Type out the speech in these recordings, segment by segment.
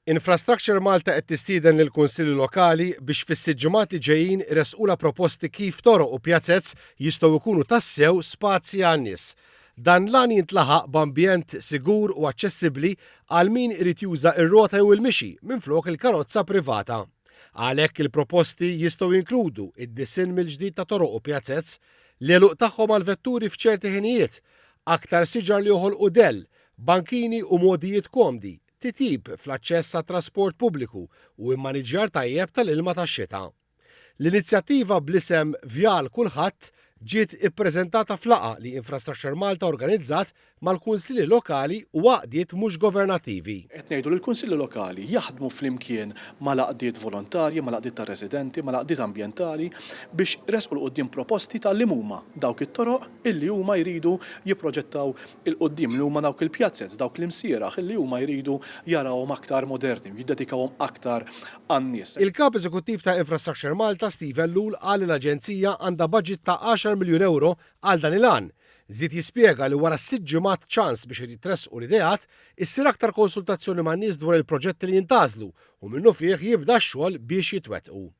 Infrastructure Malta qed tistieden lill-Kunsilli Lokali biex fis-sitt ġimgħat li ġejjin iressqulha proposti kif toroq u pjazez jistgħu jkunu tassew spazji għan-nies. Dan l-għan jintlaħaq b'ambjent sigur u aċċessibbli għal min irid juża r-rota jew il-mixi minflok il-karozza privata. Għalhekk il-proposti jistgħu jinkludu d-disinn mill-ġdid ta' toroq u pjazez, l-għeluq tagħhom għall-vetturi f'ċerti ħinijiet, aktar siġar li joħolqu dell, bankini u mogħdijiet komdi, titjib fl-aċċess għat-trasport pubbliku u immaniġġjar tajjeb tal-ilma tax-xita. L-inizjattiva bl-isem Vjal Kulħadd ġiet ippreżentata f'laqgħa li Infrastructure Malta organizzat mal-Kunsilli Lokali u għaqdiet mhux governattivi. Qed ngħidu li l-Kunsilli Lokali jaħdmu flimkien mal-għaqdiet volontarji, mal-għaqdiet tar-residenti, mal-għaqdiet ambjentali biex iressqu 'l quddiem proposti ta' liema huma dawk it-toroq illi huma jridu jipproġettaw 'il quddiem li huma dawk il-pjazez, dawk l-imsieragħ illi huma jridu jarawhom aktar moderni u jiddedikawhom aktar għan-nies. Il-Kap Eżekuttiv ta' Infrastructure Malta, Steve Ellul qal li l-Aġenzija għandha baġit ta' għaxar miljun ewro għal dan il-għan. Żied jispjega li wara sitt ġimgħat ċans biex jitressqu l-ideat, issir aktar konsultazzjoni man-nies dwar il-proġetti li jintgħażlu u minnufih jibda x-xogħol biex jitwettqu.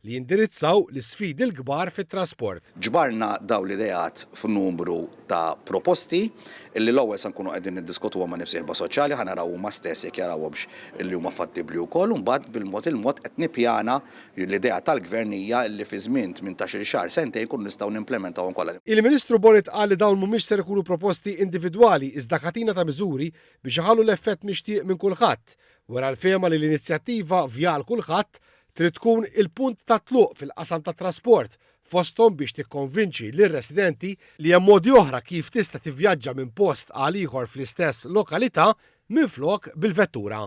li jindirizzaw l-isfidi l-kbar fit-trasport. Ġbarna dawn l-ideat f'numru ta' proposti, li l-ewwel se nkunu qegħdin niddiskutuhom mal-imsieħba soċjali, ħa naraw huma stess jekk jarawhomx li huma fattibbli wkoll, u mbagħad bil-mod il-mod qed nippjana, l-idea tal-Gvern hija li fi żmien tmintax-il xahar, sentejn inkunu nistgħu nimplimentawhom kollha. Il-Ministru Borg qal li dawn mhumiex ser ikunu proposti individwali iżda katina ta' miżuri biex iħallu l-effett mixtieq minn kulħadd, wera l-fehma li l-inizjattiva Vjal Kulħadd trid tkun il-punt tat-tluq fil-qasam tat-trasport, fosthom biex tikkonvinċi lir-residenti li hemm modi oħra kif tista' tivvjaġġa minn post għal ieħor fl-istess lokalità minflok bil-vettura.